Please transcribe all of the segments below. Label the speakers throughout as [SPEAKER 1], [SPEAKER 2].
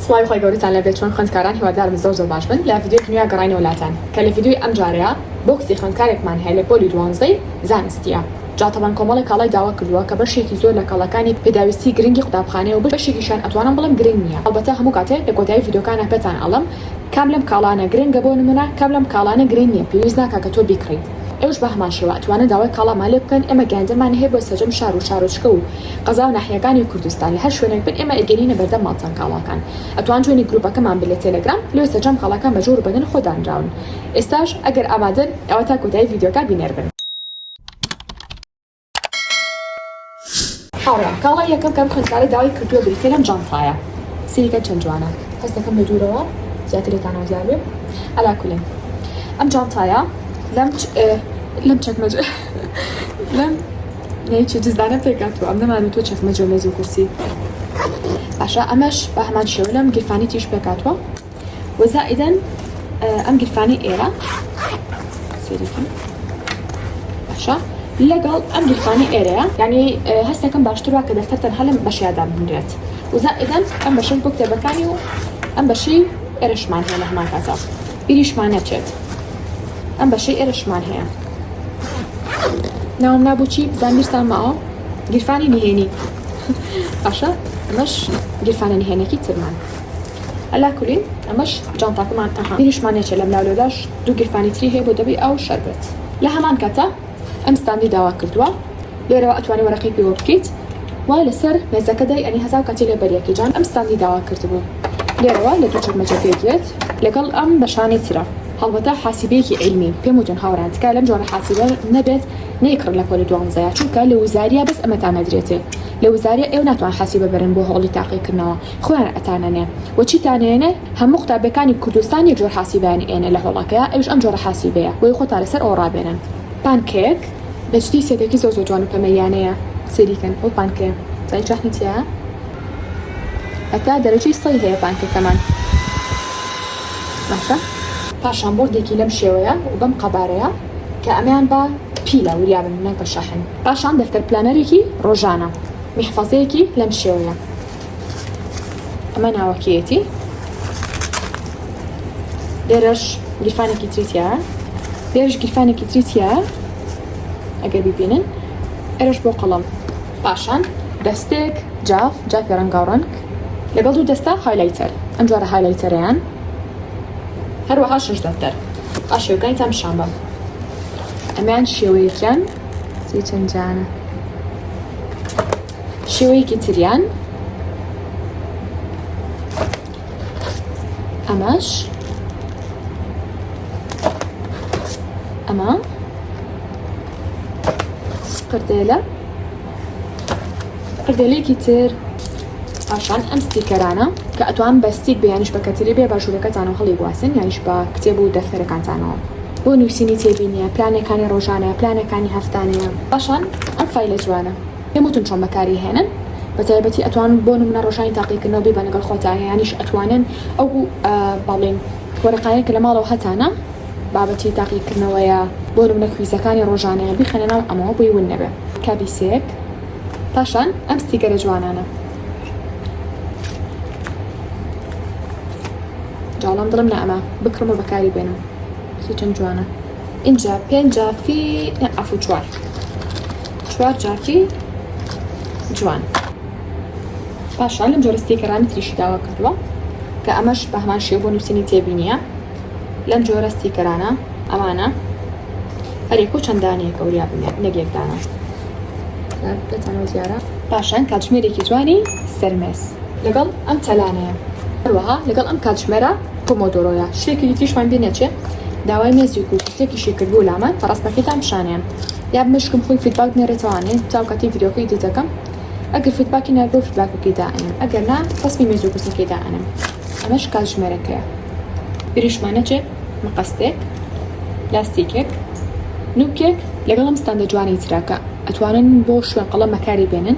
[SPEAKER 1] سڵاوی خوای گەورەتان لێبێت چۆن خوێندکاران هیوادارم زۆر زۆر باش بن لە ڤیدیۆی نوێ گەڕاینەوە لاتان کە لە ڤیدیۆی ئەم جارەیا بۆکسی خوێندکارێکمان هەیە لە پۆلی دوانزەی زانستیە جا تەبەن کۆمەڵێ کاڵای داوا کردووە کە بەشێکی زۆر لە کاڵاکانی پێداویستی گرنگی قوتابخانەیە و بەشێکیشیان ئەتوانم بڵێم گرنگ نیە هەڵبەتە هەموو کاتێ لە کۆتایی ڤیدیۆکانا پێتان ئەڵێم کام لەم کاڵانە گرنگە بۆ نمونە کام لەم کاڵانە گرنگ نیە پێویست ناکا کە تۆ بیکڕیت ئێوەش بە هەمان شێوە ئەتوانن داوای کاڵامان لێ بکەن ئێمە گەیاندنمان هەیە بۆ سەجەم شار و شارۆچکە و قەزاو ناحیەکانی کوردستان لەهەر شوێنێک بن ئێمە ئەیگەرینە بەردەم ماڵپەن کاڵاکان ئەتوان جوێنی گروپەکەمان بن لە تێلەگرام لۆ سەرجەم کاڵاکان بە جۆر و بەدەن خۆ دانراون ئێستاش ئەگەر ئامادەن ئەوا تا کۆتایی ڤیدیۆکە بینەر بن. هاوڕێیان کاڵای یەکەم کام خوێندکارە داوای کردووە بریتیە لەم جانتایە سەیری کەن چەند جوانە هەست دەکەم لە دوورەوە زیاتر لێتانەوە دیار بێ عەلا کولێن ئەم جانتایە لەم لەم چەکمەجە لەم نەی چی جزدانە پێکاتوە ئەم نەمان و تۆ چەکمە جۆ مێز و کورسی باشە ئەمەش بە هەمان شێوە لەم گیرفانی تیش پێکاتوە وەزائیدەن ئەم گیرفانی ئێرە سێریکە باشە لەگەڵ ئەم گیرفانی ئێرەیە ینی هەستەکەم باشتر وا کە دەفتەر تەنها لەم بەشیادا بنرێت وزائیدەن ئەم بەشەش بۆ کتێبەکانی و ئەم بەشی ئێرەشمان هەیە لە هەمان کاتە بیریشمان نەچێت ئەم بەشەی ئێرەشمان هەیە ناوم نابوو چی بزان میرسان ماوە گیرفانی نهێنی باشە ئەمەش گیرفانە نهێنێکی ترمان ئەلا کولین ئەمەش جانتاکەمان ئەها بیریشمان نەچێت لەم لاولۆداش دوو گیرفانی تری هەیە بۆ دەبی ئەو شەربێت لە هەمان کاتە ئەم ستاندی داوا کردوە لێرەوە ئەتوانی وەرەقەی پێوە بکەیت و لەسەر مێزەکە دای ئەنی هەزاو کاتی لێ بەریە کەی جان ئەم ستاندی داوا کردبوو لێرەوە لە دوو چەکمەجە پێ دێت لەگەڵ ئەم بەشانی ترە هەڵبەتە حاسیبیەکی عیلمی پێم وتون هاوران تکایە لەم جۆرە حاسیبە نەبێت نەیکڕن لە پۆلی دوانزەیا چونکە لە وزاریا بەس ئەمەتان ئەدرێتێ لە وزاریا ئێوە ناتوان حاسیبە بەرن بۆ هەوڵی تاقی کردنەوە خۆیان ئەتانەنێ و چیتان ئەیەنێ هەموو قوتابیەکانی کوردستان یەک جۆر حاسیبەیان ئەیەنێ لە هۆڵەکەیا ئەویش ئەم جۆرە حاسیبەیە بۆیە خۆتان لەسەر ئەوە ڕابێنن پانکەیەک بەجدی سێتێکی زۆر زۆر جوان و پەمەییانەیە سەیری کەن ئەو پانکەیە زانی چ ڕەحمی تیایە هەتا دەرەجەی سەی هەیە پانکەکەمان باشە. پاشان بۆردێکی لەم شێوەیە و بەم قەبارەیە کە ئەمەیان بە پیلە وریا بن نەک بە شەحن پاشان دەفتەر پلانەرێکی ڕۆژانە میحفەزەیەکی لەم شێوەیە. ئەمە ناوەکیەتی لێرەش گیرفانێکی تریتیا لێرش گیرفانێکی تریتیا ئەگەر ببینن ئەرش بۆ قەڵم پاشان دەستێک جاف جافی ڕەنگا و ڕەنگ لەگەڵ دوو دەستا هایلایتەر ئەم جارە هایلایتەریان هەروەها شش دەفتەر ئا شێوکانی تام شان بە ئەمیان شێوەیەکیان چەند جانە شێوەیەکی تریان ئەمەش ئەمە قردێلە قردێلێکی تر پاشان ئەم ستیکەرانە کە ئەتوان بە ستیک بیانیش بە کەتری بێ باشوورەکەتان و هەڵی گواستن یانیش بە کتێب و دەفتەرەکانتانەوە بۆ نووسینی تێبینیە پلانەکانی ڕۆژانە پلانەکانی هەفتانەیە پاشان ئەم فیلە جوانە پێم وتن چۆن بەکاری هێنن بەتایبەتی ئەتوان بۆ نمونە ڕۆژانی تاقیکردنەوە بیبەن لەگەڵ خۆتا یانیش ئەتوانن ئەو بەڵێن وەرەقانەی کە لە ماڵەوە هەتانە بابەتی تاقیکردنەوەیە بۆ نمونە کویزەکانی ڕۆژانەیە بیخەنە ناو ئەمەوە بۆی ون نەبێ کابیسێک پاشان ئەم ستیکەرە جوانانە جاڵم دڵم نە ئەمە بکڕم و بەکاری بێنم چەند جوانە ئینجا پێنجا فی ئەفو چوار چوار جاکی جوان پاشان لەم جۆرە ستیکەرانی تریشی داوا کردووە کە ئەمەش بە هەمان شێو بۆ نووسینی تێبینیە لەم جۆرە ستیکەرانە ئەمانە هەرێک و چەندانەیەکە وریا بنێت نەگێکدانە پێتانەوە زیارە پاشان کاتژمێرێکی جوانی سەرمێس لەگەڵ ئەم تەلانەیە هەروەها لەگەڵ ئەم کاتژمێرە پۆمۆدۆرۆیە شتێکی دیتریشمان بێ نەچێت داوای مێزی و کوچێکیشی کردبوو لامان پەڕاستەکەتان پیشانیان یاب مشکم خۆی فیدباک نێرێتەوە ئەنێ جاو کاتی ڤیدیۆکەی ئیدیت دەکەم ئەگەر فیدباکی ناردەو فیدباکەکەی دائەنێم ئەگەر نا ڕەسمی مێز و کورسەکەی دائەنێم ئەمەش کاتژمێرەکەیە بیریشمان نەچێ مەقەستێک لاستیکێک نوکێک لەگەڵ ئەم ستاندە جوانەی تراکە ئەتوانن بۆ شوێن قەڵەم بەکاری بێنن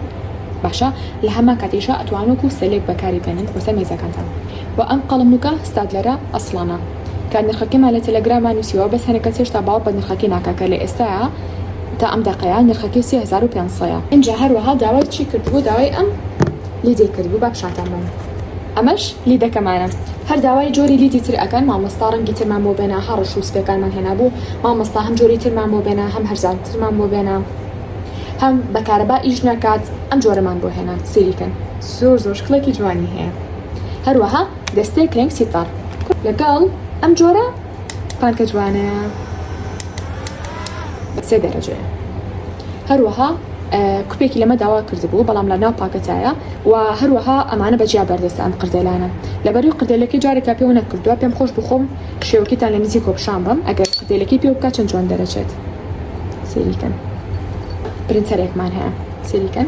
[SPEAKER 1] باشە لە هەمان کاتیشە ئەتوانۆک و سەلێک بەکاری بێنن بۆسەر مێزەکانتان و ئەم قەڵەم نوکە ستادلەرە ئەسڵانە کە نرخەکەیمان لە تێلەگراما نوسیوە بەس هەنێ کەس هێشتا باوەڕ بە نرخەکەی ناکا کە لە ئێستایا تا ئەم دەقەیە نرخەکەی سێ هەزار و پێنج سەیە. ئینجا هەروەها داوای چی کردبوو داوای ئەم لیدەی کردبوو با پیشانتان بەم ئەمەش لیدەکەمانە هەر داوای جۆری لیدی تر ئەکەن مامۆستا ڕەنگی ترمان بۆ بێنە هە ڕەش و سپێکانمان هێنابوو مامۆستا هەم جۆری ترمان بۆ بێنە هەم هەرزان ترمان بۆ بێنە هەم بە کارەبا ئیش ناکات ئەم جۆرەمان بۆ هێنا سەیری کەن زۆر زۆر شکڵێکی جوانی هەیە هەروەها. دەستێ کرێم سیتەڕ لەگەڵ ئەم جۆرە پانکە جوانەیە بە سێ دەرەجەیە هەروەها کوپێکی لەمە داوا کردبوو بەڵام لە ناو پاکەتایە و هەروەها ئەمانە بەجیا بەردەستە ئەم قردێلانە لەبەری قردێلەکەی جارێکا پێوە نەکردووە پێم خۆش بخۆم شێوەکەتان لە نزیک کۆپشان بم ئەگەر قردێلەکەی پێ بکات چەند جوان دەرەچێت سریکەن پرنتەرێکمان هەیە سریکەن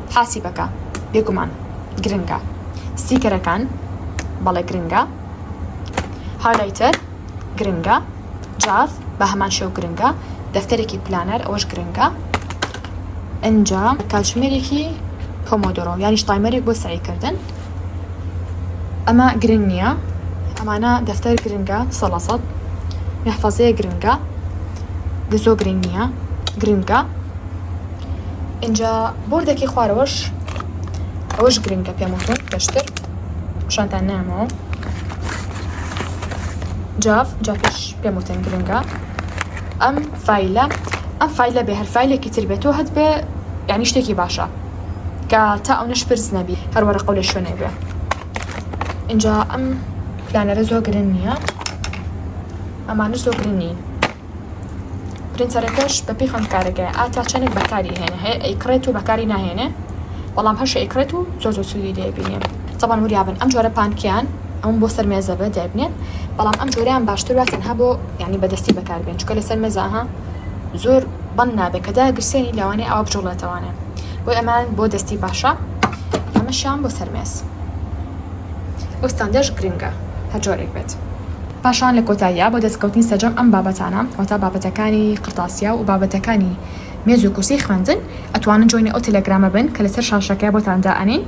[SPEAKER 1] حاسیبەکە بێگومان گرنگە ستیکەرەکان بەڵێ گرنگە هالایتەر گرنگە جاف بە هەمان شێو گرنگە دەفتەرێکی پلانەر ئەوەش گرنگە ئەنجا کاتژمێرێکی پۆمۆدۆرۆ یانیش تایمەرێک بۆ سەعیکردن ئەمە گرنگ نییە ئەمانە دەفتەر گرنگە سە لە سەد محفەزەیە گرنگە گزۆ گرنگ نییە گرنگە ئینجا بۆردەکەی خوارەوەش ئەوەش گرنگە پێم وتن پێشتر پیشانتان نامەوە جاف جافش پێم وتن گرنگە ئەم فیلە ئەم فیلە بێ هەر فیلێکی تر بێتەوە هەت بێ یعنی شتێکی باشە کە تا ئەونە شپرز نەبی هەر وەرەقەو لە شوێنێک بێ ئینجا ئەم پلانەرە زۆر گرن نییە ئەمانە زۆر گرن نین پرینتەرەکەش بە پێی خوێندکارەکە ئاتا چەندێک بەکاری هێنە هەیە ئەیکڕێت و بەکاری ناهێنێ بەڵام هەش ئەیکڕێت و زۆر زۆر سوودی دەبینێ تەبان وریابن ئەم جۆرە پانکیان ئەوم بۆ سەر مێزە بە دەبنێن بەڵام ئەم جۆریان باشتر وە تەنها بۆ یعنی بەدەستی بەکاربێن چکە لەسەر مێزاها زۆر بەند نابێت کە داگرسێنی لەوانەیە ئاوا بجوڵێتەوانێ بۆی ئەمان بۆ دەستی باشە ئەمەشیان بۆ سەرمێس ئەو ستاندەش گرنگە هەر جۆرێک بێت. پاشان لە کۆتاییا بۆ دەستکەوتنی سەرجەم ئەم بابەتانە واتە بابەتەکانی قڕتاسیا و بابەتەکانی مێز و کورسی خوێندن ئەتوانن جۆینی ئەو تێلێگرامە بن کە لەسەر شاشەکە بۆتان دائەنێین.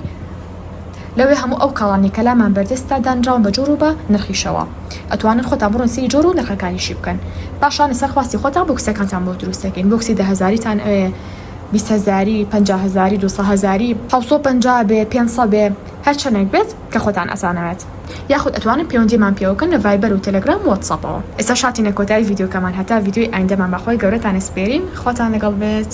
[SPEAKER 1] لەوێ هەموو ئەو کاڵانەی کە لامان بەردەستە دانراون بە جۆر و بە نرخیشەوە ئەتوانن خۆتان بڕۆن سەیری جۆر و نرخەکانیشی بکەن پاشان لەسەر خواستی خۆتان بۆکسەکانتان بۆ دروست دەکەین بۆکسی دە هەزاریتان ئەوێ بیست هەزاری پەنجا هەزاری دوو سە هەزاری حەوت سەد و پەنجا بێ پێنج سەد بێ هەر چەنێک بێت کە خۆتان ئەزانەوێت یاخود ئەتوانن پەیوەندیمان پێوە بکەن لە ڤایبەر و تێلێگرام و واتسئەپەوە ئێستاش هاتینە کۆتایی ڤیدیۆکەمان هەتا ڤیدیۆی ئایندەمان بە خۆی گەورەتان ئەسپێرین خواتان لەگەڵ بێت.